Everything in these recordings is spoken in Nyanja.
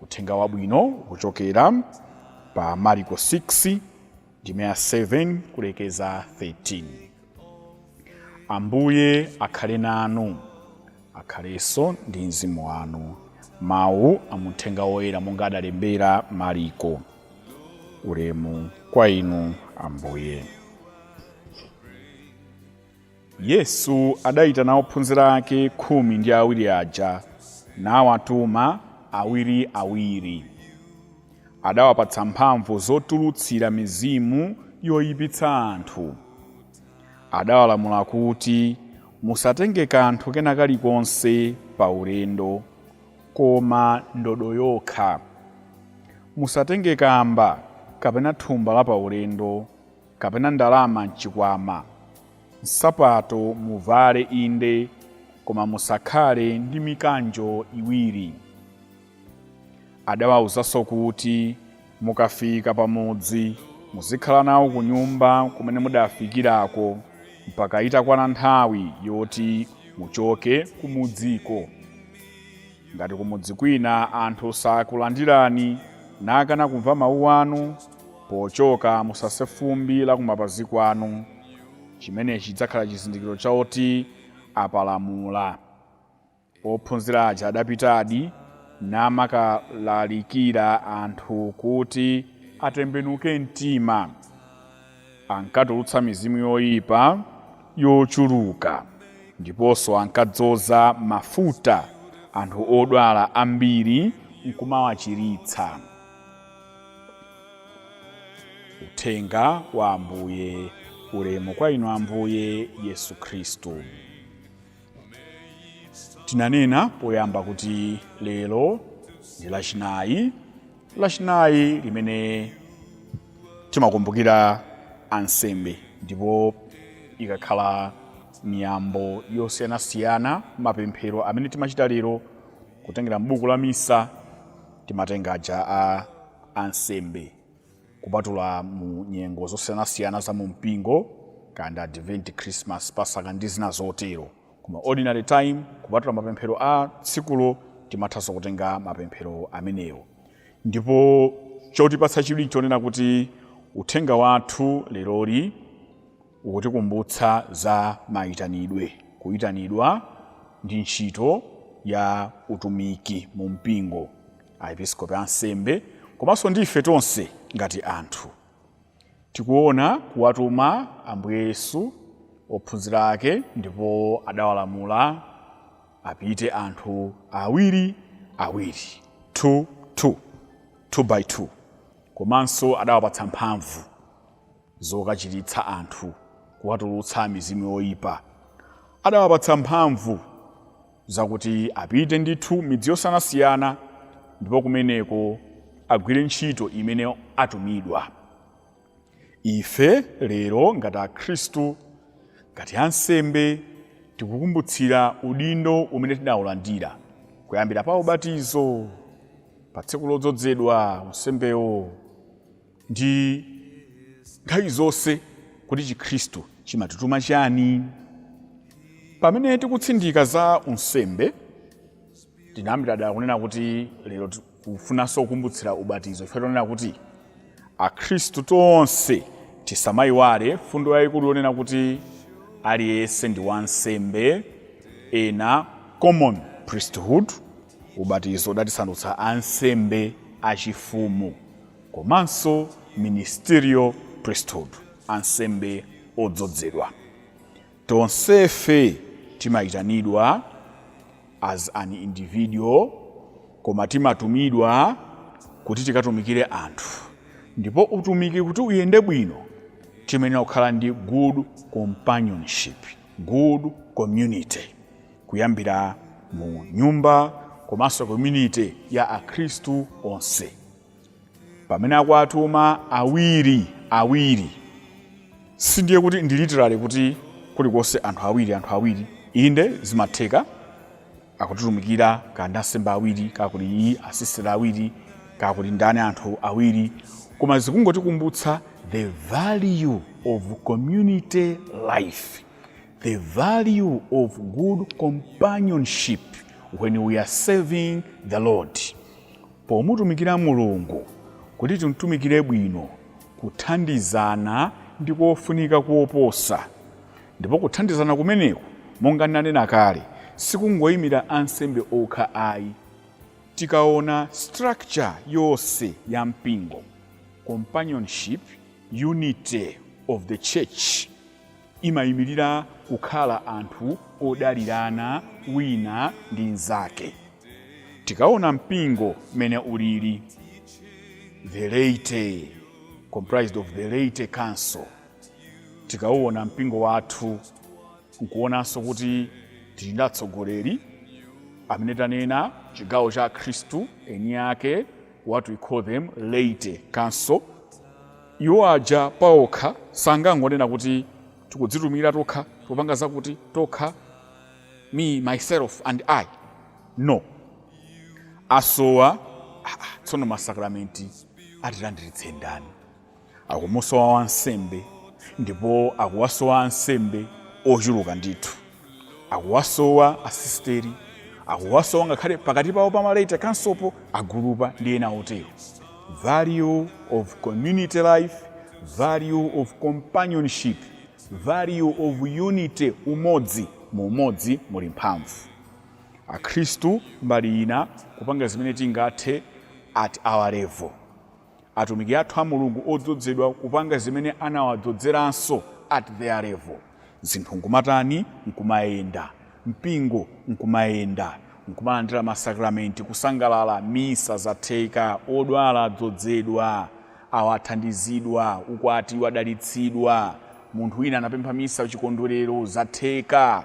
Uthenga wabwino ukuchokera pa Mariko 6 ndime ya 7 kulekeza 13. Ambuye akhale nanu, akhalenso ndi mzimu wanu. Mawu a mu Uthenga woyera monga adalembera Mariko. Ulemu kwa inu Ambuye. Yesu adaitana ophunzira ake khumi ndi awiri aja, nawatuma awiriawiri. Adawapatsa mphamvu zotulutsira mizimu yoipitsa anthu. Adawalamula kuti, Musatenge kanthu kena kalikonse pa ulendo, koma ndodo yokha. Musatenge kamba kapena thumba lapaulendo. kapena ndalama m'chikwama. Nsapato muvale inde, koma musakhale ndi mikanjo iwiri. Adawauzanso kuti, Mukafika pamudzi, muzikhala nawo kunyumba kumene mudafikirako, mpaka itakwana nthawi yoti muchoke kumudziko. Ngati kumudzi kwina anthu sakulandirani, nakana kumva mawu anu, pochoka musase fumbi la kumapazi kwanu. Chimenechi chidzakhala chizindikiro choti apalamula. Ophunzira aja adapitadi, namakalalikira anthu kuti atembenuke mtima. ankatulutsa mizimu yoyipa yochuluka ndiponso ankadzoza mafuta anthu odwala ambiri n'kumawachiritsa. Uthenga wa Ambuye. Ulemu kwa Inu Ambuye Yesu Khristu. Tinanena poyamba kuti lero ndi Lachinayi lachinayi limene timakumbukira ansembe ndipo ikakhala miyambo yosiyanasiyana mapemphero amene timachita lero kutengera m'buku la misa timatenga aja a ansembe kupatula mu nyengo zosiyanasiyana za mu mpingo kaya ndi advent christmas pasaka ndi zina zotero Koma ordinary time kupatula mapemphero a tsikulo timathanso kutenga mapemphero amenewo. Ndipo chotipatsa chidwi nchonena kuti uthenga wathu leroli ukutikumbutsa za maitanidwe, kuitanidwa ndi ntchito ya utumiki mu mpingo, Aepiskopi, ansembe, komanso ndi ife tonse ngati anthu. Tikuona kuwatuma Ambuye Yesu ophunzira ake ndipo adawalamula apite anthu awiri awiri, 2 2, 2 by 2, komanso adawapatsa mphamvu zokachiritsa anthu, kuwatulutsa mizimu yoipa. Adawapatsa mphamvu. zokuti apite ndithu midzi yosiyanasiyana ndipo kumeneko agwire ntchito imene atumidwa. Ife lero ngati Akhristu, ngati ansembe, tikukumbutsira udindo umene tidaulandira kuyambira pa ubatizo, pa tsiku lodzodzedwa unsembewo, ndi nthawi zonse kuti chikhristu chimatituma chani pamene tikutsindika za unsembe tinayambira dala kunena kuti lero tikufunanso kukumbutsira ubatizo mfundo yonena kuti akhristu tonse tisamayiwale mfundo yayikulu yonena kuti aliyense ndi wansembe ena common priesthood Ubatizo udatisandutsa ansembe achifumu komanso ministerial priesthood, ansembe odzodzedwa. Tonsefe timayitanidwa as an individual koma timatumidwa kuti tikatumikire anthu ndipo utumiki kuti uyende bwino timayenera kukhala ndi good companionship, good community. kuyambira mu nyumba komanso community ya akhristu onse pamene akuwatuma awiri awiri sindiye kuti ndi literally kuti kulikonse anthu awiri anthu awiri inde zimatheka akutitumikira kaya ndi ansembe awiri kaya kuli asisiteri awiri kaya kuli ndani anthu awiri koma zikungotikumbutsa the value of community life the value of good companionship when we are serving the Lord. Pomutumikira Mulungu kuti timtumikire bwino kuthandizana ndi kofunika koposa. Ndipo kuthandizana kumeneku monga nanena kale sikungoyimira ansembe okha ayi. Tikaona structure yonse ya mpingo companionship unity of the church imaimirira kukhala anthu odalirana wina ndi nzake. Tikaona mpingo mmene ulili, the laity, comprised of the laity council, tikauona mpingo wathu nkuonanso kuti tili ndi atsogoleri amene tanena chigawo cha akhristu eni ake, what we call them laity council, Iwo aja paokha sangangonena kuti tikudzitumikira tokha, tikupanga zakuti tokha, me, myself and I. No. Asowa, tsono masakramenti atilandiritse ndani? Akumusowa wansembe ndipo akuwasowa ansembe ochuluka ndithu. akuwasowa asisteri akuwasowa ngakhale pakati pawo pa malaita kamsopo agurupa ndi ena otero value of community life value of companionship value of unity umodzi mu umodzi muli mphamvu akhristu mbali ina kupanga zimene tingathe at our level atumiki athu a Mulungu odzodzedwa kupanga zimene anawadzozeranso at their level zinthu nkumatani? nkumayenda, mpingo nkumayenda, nkumalandira ma sacramenti, kusangalala, misa zatheka, odwala adzodzedwa, awa athandizidwa, ukwati wadalitsidwa, munthu wina anapempha misa chikondwerero zatheka.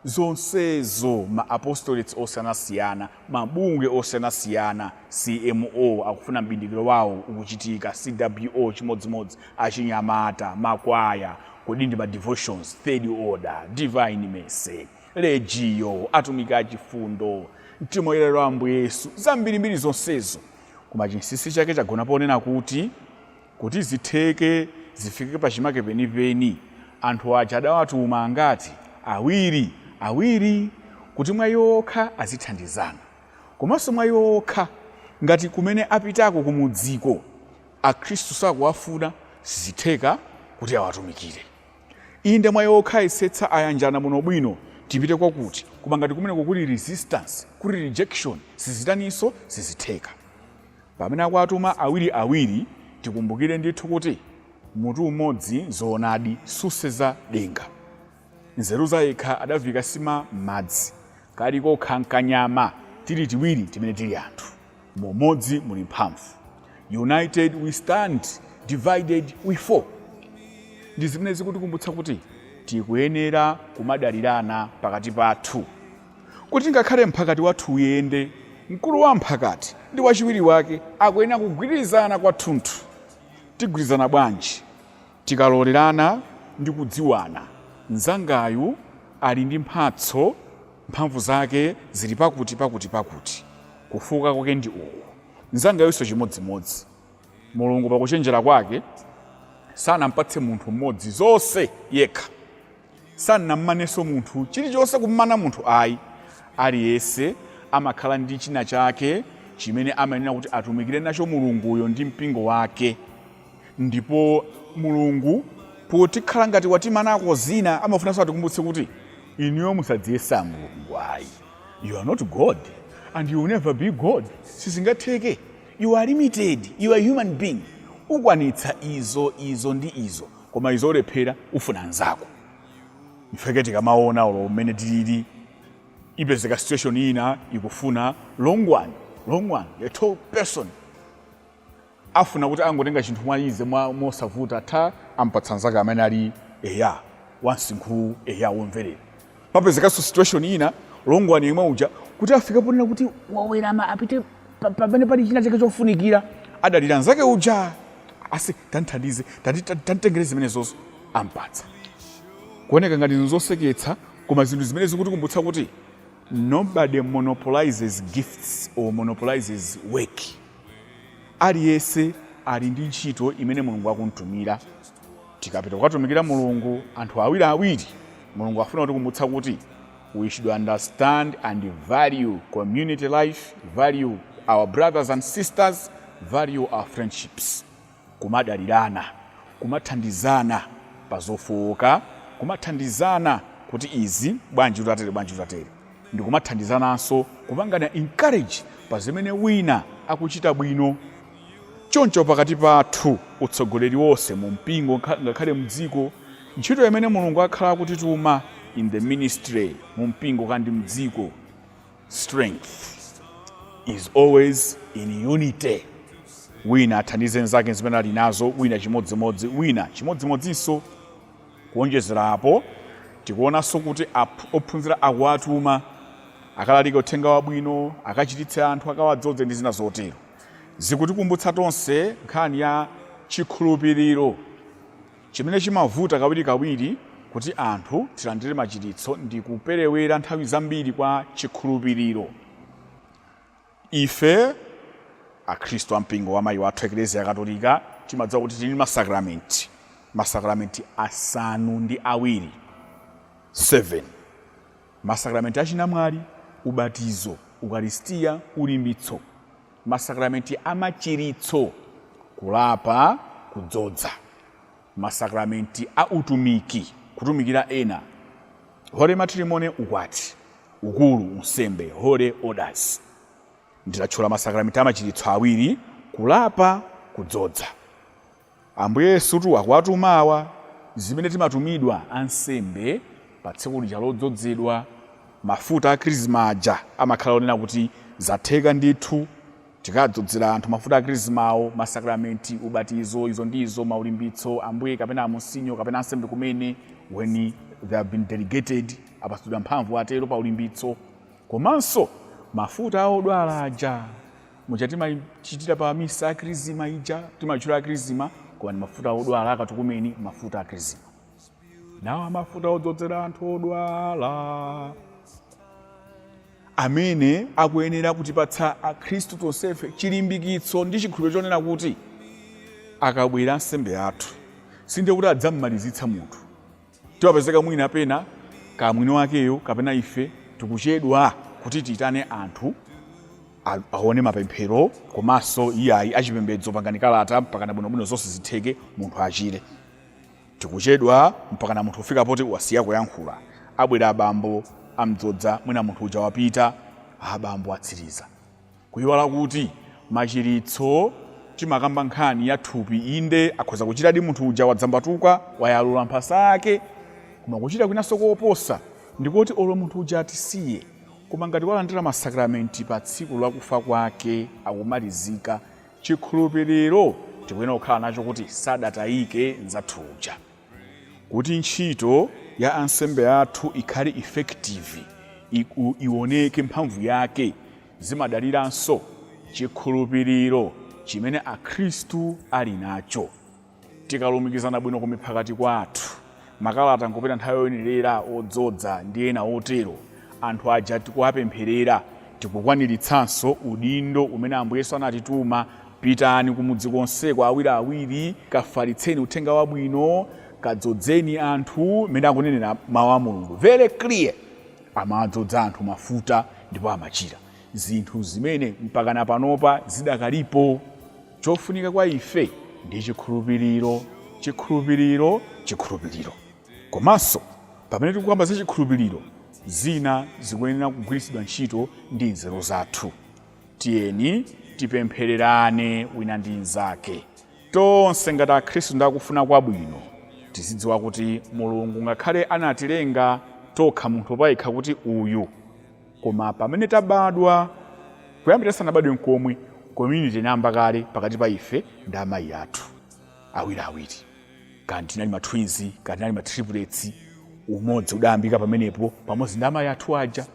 zonsezo ma apostolates osiyanasiyana, mabungwe osiyanasiyana, CMO akufuna m'bindikiro wawo ukuchitika, CWO chimodzimodzi, achinyamata, makwaya, kodi ndi ma devotions, third order, divine mercy, legio, atumiki a chifundo, mtima woyera wa Ambuye Yesu, zambirimbiri zonsezo, koma chinsinsi chake chagona ponena kuti. Kuti zitheke zifike pachimake penipeni, anthu aja adawatuma angati? Awiri, awiri, kuti mwa iwo okha azithandizana, komanso mwa iwo okha, ngati kumene apitako kumudziko Akhristu sakuwafuna, sizitheka kuti awatumikire. Inde, mwa iwo okha ayesetsa, ayanjana bwinobwino, tipite kwakuti, koma ngati kumeneko kuli resistance, kuli rejection, sizitaninso? Sizitheka. Pamene akuwatuma awiri awiri, tikumbukire ndithu kuti mutu umodzi zoonadi susenza denga. Nzeru zayekha adaviika nsima m'madzi. Kali kokha nkanyama tili tiwiri timene tili anthu. Mu umodzi muli mphamvu. United we stand, divided we fall. Ndi zimene zikutikumbutsa kuti tikuyenera kumadalirana pakati pathu. Kuti ngakhale mphakati wathu uyende, mkulu wa mphakati ndi wachiwiri wake akuyenera kugwirizana kwathunthu. Tigwirizana bwanji? Tikalolerana ndi kudziwana, mnzangayu ali ndi mphatso, mphamvu zake zili pakuti pakuti pakuti, kufooka kwake ndi uku, mnzangayunso chimodzimodzi. Mulungu pakuchenjera kwake sanampatse munthu mmodzi zonse yekha, sanammanenso munthu chilichonse kummana munthu ayi. Aliyense amakhala ndi china chake chimene amayenera kuti atumikire nacho Mulunguyo ndi mpingo wake, ndipo Mulungu potikhala ngati watimanako zina amafunanso atikumbutse kuti inuyo musadziyesa Mulungu ayi, you are not God and you will never be God, sizingatheke. You are limited, you are human being. Ukwanitsa izo, izo, ndi izo. Koma izo ulephera, ufuna nzako. Mpake tikamaona olo mmene tilili. Ipezeka situation ina, ikufuna long one, long one, a tall person. Afuna kuti angotenga chinthu mwa easy, mwa mosavuta, atha ampatsa nzake amene ali eya, wamsinkhu eya, womverera. papezekanso situation ina long one yemwe uja kuti afike ponena kuti wawerama apite pa- pamene pali china chake chofunikira adalira nzake uja ati tandithandize tandi- tan- tanditengere zimenezozo ampatsa kuoneka ngati zinthu zoseketsa koma zinthu zimene zikutikumbutsa kuti nobody monopolizes gifts or monopolizes work aliyense ali ndi ntchito imene mulungu akumtumira Tikapita kukatumikira Mulungu anthu awiri awiri, Mulungu akufuna kutikumbutsa kuti we should understand and value community life, value our brothers and sisters, value our friendships. Kumadalirana, kumathandizana pa zofooka, kumathandizana kuti izi bwanji tutatere bwanji tutatere, ndi kumathandizananso kupangana encourage pa zimene wina akuchita bwino. Choncho pakati pathu, utsogoleri wonse mu mpingo ngakhale mdziko, ntchito imene Mulungu akhala akutituma in the ministry mu mpingo kaya ndi mdziko strength is always in unity. Wina athandize mzake mzimene ali nazo, wina chimodzimodzi, wina chimodzimodzinso. Kuonjezera apo, tikuonanso kuti ophunzira akuwatuma akalalike uthenga wabwino, akachiritse anthu, akawadzodze ndi zina zotero. zikutikumbutsa tonse nkhani ya chikhulupiriro chimene chimavuta kawirikawiri kuti anthu tilandire machiritso ndi kuperewera nthawi zambiri kwa chikhulupiriro. Ife Akhristu a mpingo wa mayi wathu Eklezia Katolika timadziwa kuti tili ndi masakramenti, masakramenti asanu ndi awiri 7. Masakramenti a chinamwali, ubatizo, ukaristia, ulimbitso, masakramenti a machiritso, kulapa, kudzodza, masakramenti a utumiki, kutumikira ena, Holy Matrimony, ukwati, ukulu, unsembe, Holy Orders. Ndinatchula masakramenti a machiritso awiri, kulapa, kudzodza. Ambuye Yesutu akuwatuma awa, zimene timatumidwa ansembe pa tsiku lija lodzodzedwa, mafuta a krisma aja amakhala onena kuti zatheka ndithu, tikadzodzera anthu mafuta a krismawo, masakramenti, ubatizo, izo ndi izo, maulimbitso, Ambuye kapena Amonsinyo kapena ansembe kumene, when they have been delegated, apatsidwa mphamvu atero pa ulimbitso, komanso mafuta a odwala aja. muja timachitira pa misa akrizima ija timatchula akrizima koma ndi mafuta odwala akatukumeni mafuta akrizima nawa mafuta odzodzera anthu odwala amene akuyenera kutipatsa akhristu tonsefe chilimbikitso ndi chikhulupiriro chonena kuti akabwera ansembe athu sindiye kuti adzammalizitsa munthu Timapezeka mwina pena kaya mwini wakeyo kapena ife tikuchedwa kuti tiitane anthu a- aone mapemphero komanso iyayi achipembedzo pangani kalata mpakana bwinobwino zonse zitheke munthu achire tikuchedwa mpakana munthu kufika poti wasiya kuyankhula abwere abambo amdzodza mwina munthu uja wapita abambo atsiriza Kuyiwala kuti machiritso timakamba nkhani ya thupi inde akhoza kuchiradi munthu uja wadzambatuka wayalula mphasa yake koma kuchira kwinanso koposa ndikoti olo munthu uja atisiye koma ngati walandira masakramenti pa tsiku lakufa kwake akumalizika chikhulupiriro tikuyenera kukhala nacho kuti sadatayike nzathu uja. kuti ntchito ya ansembe athu ikhale effective, ioneke mphamvu yake, zimadaliranso chikhulupiriro chimene akhristu ali nacho. Tikalumikizana bwino kumiphakati kwathu, makalata nkupita nthawi yoyenerera, odzodza ndi ena otero, anthu aja tikuwapempherera, tikukwaniritsanso udindo umene Ambuye Yesu anatituma Pitani kumudzi konseko awiri awiri, kafalitseni Uthenga Wabwino, kadzodzeni anthu mmene akunenera Mau a Mulungu very clear. Amawadzodza anthu mafuta ndipo amachira. Zinthu zimene mpakana panopa zidakalipo. Chofunika kwa ife ndi chikhulupiriro, chikhulupiriro, chikhulupiriro. Komanso pamene tikukamba za chikhulupiriro, zina zikuyenera kugwiritsidwa ntchito ndi nzeru zathu. tiyeni tipemphererane wina ndi mnzake tonse ngati akhristu ndi akufuna kwabwino tizidziwa kuti mulungu ngakhale anatilenga tokha munthu payekha kuti uyu koma pamene tabadwa kuyambira sanabadwe mkomwe community inayamba kale pakati pa ife ndi amayi athu awiriawiri kaya tinali ma twins kaya tinali ma triplets umodzi udayambika pamenepo pamodzi ndi amayi athu aja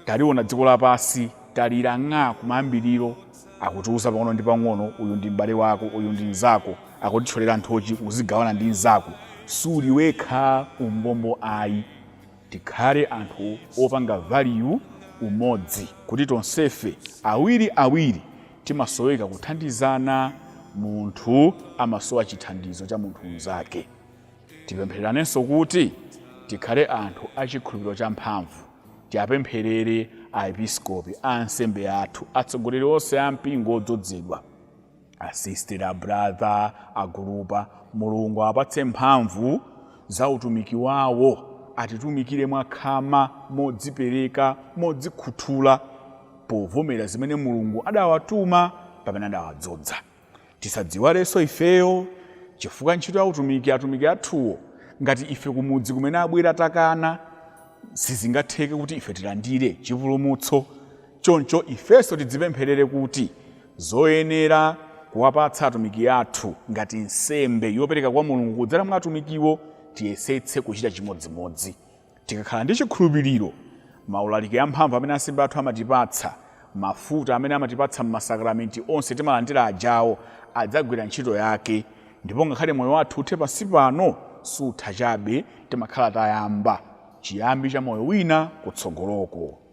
taliona dziko lapansi talira ng'a kumayambiriro akutiuza pang'ono ndi pang'ono uyu ndi m'bale wako uyu ndi mnzako akutithyolera nthochi uzigawana ndi mnzako suli wekha umbombo ayi Tikhale anthu opanga value umodzi kuti tonsefe awiri awiri timasoweka kuthandizana munthu amasowa chithandizo cha munthu mnzake. Tipemphereranenso kuti tikhale anthu a chikhulupiriro champhamvu. Tiapempherere a episkopi, a ansembe athu, atsogoleri onse a mpingo odzodzedwa. Asister, abrother, agurupa, Mulungu awapatse mphamvu za utumiki wawo, atitumikire mwakhama, modzipereka, modzikhuthula, povomera zimene Mulungu adawatuma pamene adawadzodza. Tisadziiwalenso ifeyo, chifukwa ntchito ya utumiki atumiki athuwo, ngati ife kumudzi kumene abwera takana, sizingatheke kuti ife tilandire chipulumutso. Choncho ifenso tidzipempherere kuti zoyenera kuwapatsa atumiki athu ngati nsembe yopereka kwa Mulungu kudzera mwa atumikiwo, tiyesetse kuchita chimodzimodzi. Tikakhala ndi chikhulupiriro, maulaliki amphamvu amene ansembe athu amatipatsa, mafuta amene amatipatsa m'masakramenti onse timalandira ajawo, adzagwira ntchito yake. Ndipo ngakhale moyo wathu uthe pansi pano, sutha chabe, timakhala tayamba chiyambi cha moyo wina kutsogoloko.